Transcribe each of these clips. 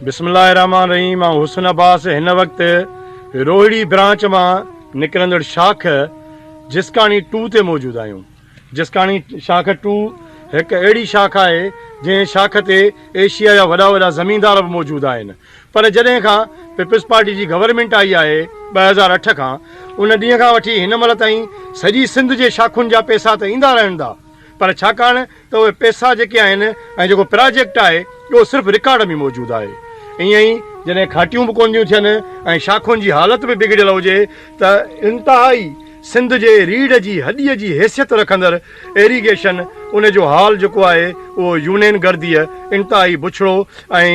بسم الله الرحمن الرحيم آئون حسن عباس هن وقت روهڙي برانچ مان نڪرندڙ شاخ جسڪاڻي ٽو تي موجود آهيون جسڪاڻي شاخ ٽو هڪ اهڙي شاخ آهي جنهن شاخ تي ايشيا جا وڏا وڏا زميندار به موجود آهن پر جڏهن کان پيپلز پارٽي جي گورنمينٽ آئي آهي ٻه هزار اٺ کان ان ڏينهن کان وٺي هن مهل تائين سڄي سنڌ جي شاخن جا پيسا ته ايندا رهندا پر ڇاڪاڻ ته اهي پئسا جيڪي آهن ۽ جيڪو پراجيڪٽ آهي اهو صرف رڪارڊ ۾ موجود آهي. ائين ئي جڏهن گهاٽيون به ڪونه ٿيون ٿين ۽ شاخن جي حالت به بگڙيل هجي ته انتهائي سنڌ جي ريڙهه جي هڏيء جي حيثيت رکندڙ ايريگيشن ان جو حال جيڪو آهي اهو يونين گرديء انتهائي بڇڙو ۽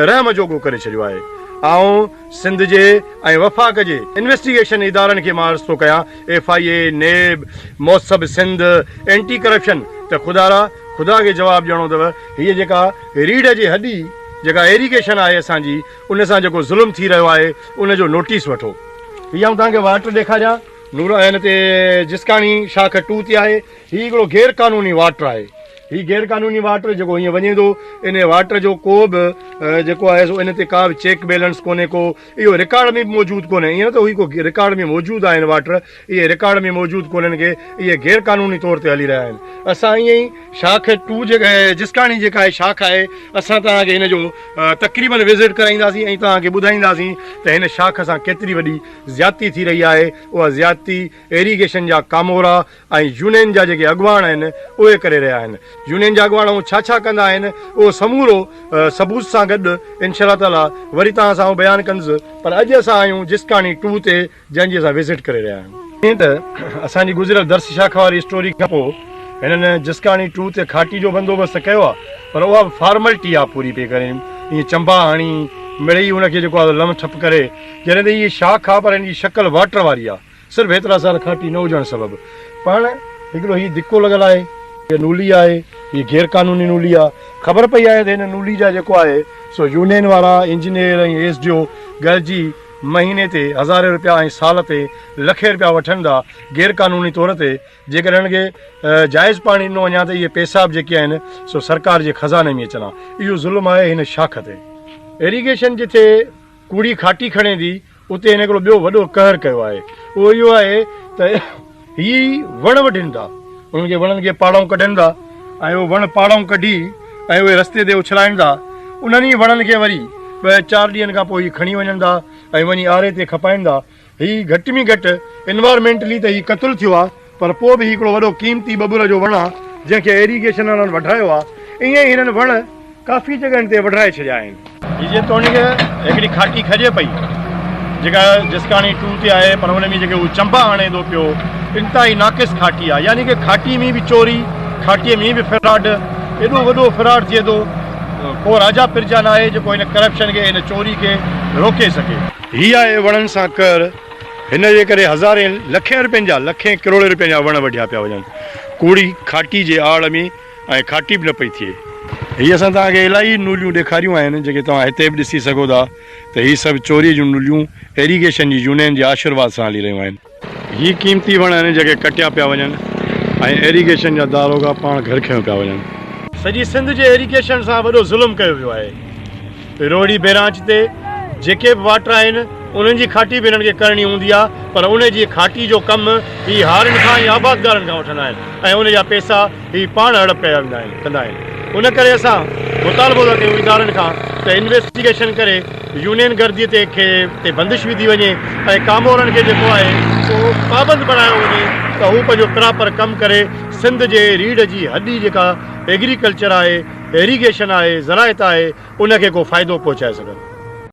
رحم جوڳو ڪري ڇڏيو آهي. آئون سنڌ جي ۽ وفاق جي انويسٽيگيشن ادارن کي مان عرض ٿو ڪيان، ايف آء اي، نيب، موسب سنڌ، اينٽي ڪرپشن ته خدارا خدا کي جواب ڏيڻو اٿو، هيء جيڪا ريڙهه جي هڏي جيڪا ايريگيشن آهي اسان جي، ان سان جيڪو ظلم ٿي رهيو آهي، ان جو نوٽيس وٺو. هي آئون توهان کي واٽر ڏيکاريان، نور عين تي جسڪاڻي شاخ ٽو تي آهي. هي هڪڙو غير قانوني واٽر آهي. هي غير قانوني واٽر جيڪو هيئن وڃي ٿو ان واٽر جو ڪو به جيڪو آهي سو ان تي ڪا به چيڪ بيلنس ڪونهي ڪو اهو رڪارڊ ۾ به موجود ڪونهي ايئن نه ته هي ڪو رڪارڊ ۾ موجود آهن واٽر اهي رڪارڊ ۾ موجود ڪونهن ڪي اهي غير قانوني طور تي هلي رهيا آهن اسان ايئن ئي شاخ ٽو جيڪا جسڪاڻي جيڪا آهي شاخ آهي اسان توهان کي هن جو تقريبن وزٽ ڪرائينداسين ۽ توهان کي ٻڌائينداسين ته هن شاخ سان ڪيتري وڏي زيادتي ٿي رهي آهي اها زيادتي ايريگيشن جا ڪامورا ۽ يونين جا جيڪي اڳواڻ آهن اهي ڪري رهيا آهن. يونين جا اڳواڻ هو ڇا ڇا ڪندا آهن اهو سمورو ثبوت سان گڏ انشاء الله تعاليٰ وري توهان سان آئون بيان ڪندس پر اڄ اسان آهيون جسڪاڻي ٽو تي جنهن جي اسان وزٽ ڪري رهيا آهيون. جيئن ته اسان جي گذريل درس شاخ واري اسٽوري کان پوء هنن جسڪاڻي ٽو تي کاٽي جو بندوبست ته ڪيو آهي پر اها به فارملٽي آهي پوري پئي ڪري ائين چنبا هڻي مڙئي ان کي جيڪو آهي لنو ٺپ ڪري جڏهن ته هي شاخ آهي پر هن جي شڪل واٽر واري آهي صرف هيترا سال کاٽي نه هجڻ سبب پاڻ هڪڙو هي ڌڪو لڳل آهي هيء نولي آهي هيء غير قانوني نولي آهي خبر پئي آهي ته هن نولي جا جيڪو آهي سو يونين وارا انجنيئر ۽ ايس ڊي او گڏجي مهيني تي هزارين روپيا ۽ سال تي لکين روپيا وٺن ٿا غير قانوني طور تي جيڪڏهن هن کي جائز پاڻي ڏنو وڃان ته اهي پئسا به جيڪي آهن سو سرڪار جي خزاني ۾ اچن ها اهو ظلم آهي هن شاخ تي ايريگيشن جتي ڪوڙي کاٽي کڻي ٿي اتي هن هڪڙو ٻيو وڏو قهر ڪيو آهي، اهو اهو آهي ته هي وڻ وڍين ٿا، انهن کي وڻن کي پاڙائون ڪڍين ٿا ۽ اهو وڻ پاڙائون ڪڍي ۽ اهي رستي تي اڇلائين ٿا، انهن ئي وڻن کي وري ٻه چار ڏينهن کان پوء هي کڻي وڃن ٿا ۽ وڃي آري تي کپائين ٿا، هي گهٽ ۾ گهٽ Environmentally ته هي قتل ٿيو آهي. پر پوء به هي هڪڙو وڏو قيمتي ٻٻر جو وڻ آ، جنهن کي ايريگيشن وارن وڍرايو آ. ائين ئي هنن وڻ ڪافي جڳهن تي وڍرائي ڇڏيا آهن. هي جيتوڻيڪ هڪڙي کاٽي کڄي پئي، جيڪا جسڪاڻي ٽو تي آهي، پر ان ۾ جيڪي هو چنبا آڻي ٿو پيو، انتهائي ناقص کاٽي آ. يعني ڪه کاٽي ۾ به چوري، کاٽي ۾ به فراڊ. ايڏو وڏو فراڊ ٿئي ٿو، ڪو راجا پرجا ناهي، جيڪو هن ڪرپشن کي، هن چوري کي روڪي سگهي. هي آهي وڻن سان ڪر. هن جي ڪري هزارين لکين رپين جا، لکين ڪروڙين رپين جا وڻ وڍيا پيا وڃن. ڪوڙي کاٽي جي آڙ ۾ ۽ کاٽي به نه پئي ٿئي. هي اسان توهان کي الاهي نليون ڏيکاريون آهن جيڪي توهان هتي به ڏسي سگهو ٿا ته هي سڀ چوريء جون نليون ايريگيشن جي يونين جي آشرواد سان هلي رهيون آهن. هي قيمتي وڻ آهن جيڪي ڪٽيا پيا وڃن ۽ ايريگيشن جا داروغا پاڻ گهر کنيو پيا وڃن. سڄي سنڌ جي ايريگيشن سان وڏو ظلم ڪيو ويو آهي. روهڙي بئرانچ تي جيڪي به واٽر آهن انهن جي کاٽي به هنن کي ڪرڻي هوندي آهي پر ان جي کاٽي جو ڪم هي هارن کان ۽ آبادگارن کان وٺندا آهن ۽ ان جا پئسا هي پاڻ هڙپ ڪيا ويندا آهن ڪندا آهن ان ڪري اسان مطالبو ٿا ڪيون ادارن کان ته انويسٽيگيشن ڪري يونين گردي تي کي تي بندش وڌي وڃي ۽ ڪامورن کي جيڪو آهي سو پابند بڻايو وڃي ته هو پنهنجو پراپر ڪم ڪري سنڌ جي ريڙهه جي هڏي جيڪا ايگريڪلچر آهي ايريگيشن آهي، زراعت آهي، ان کي ڪو فائدو پهچائي سگهن.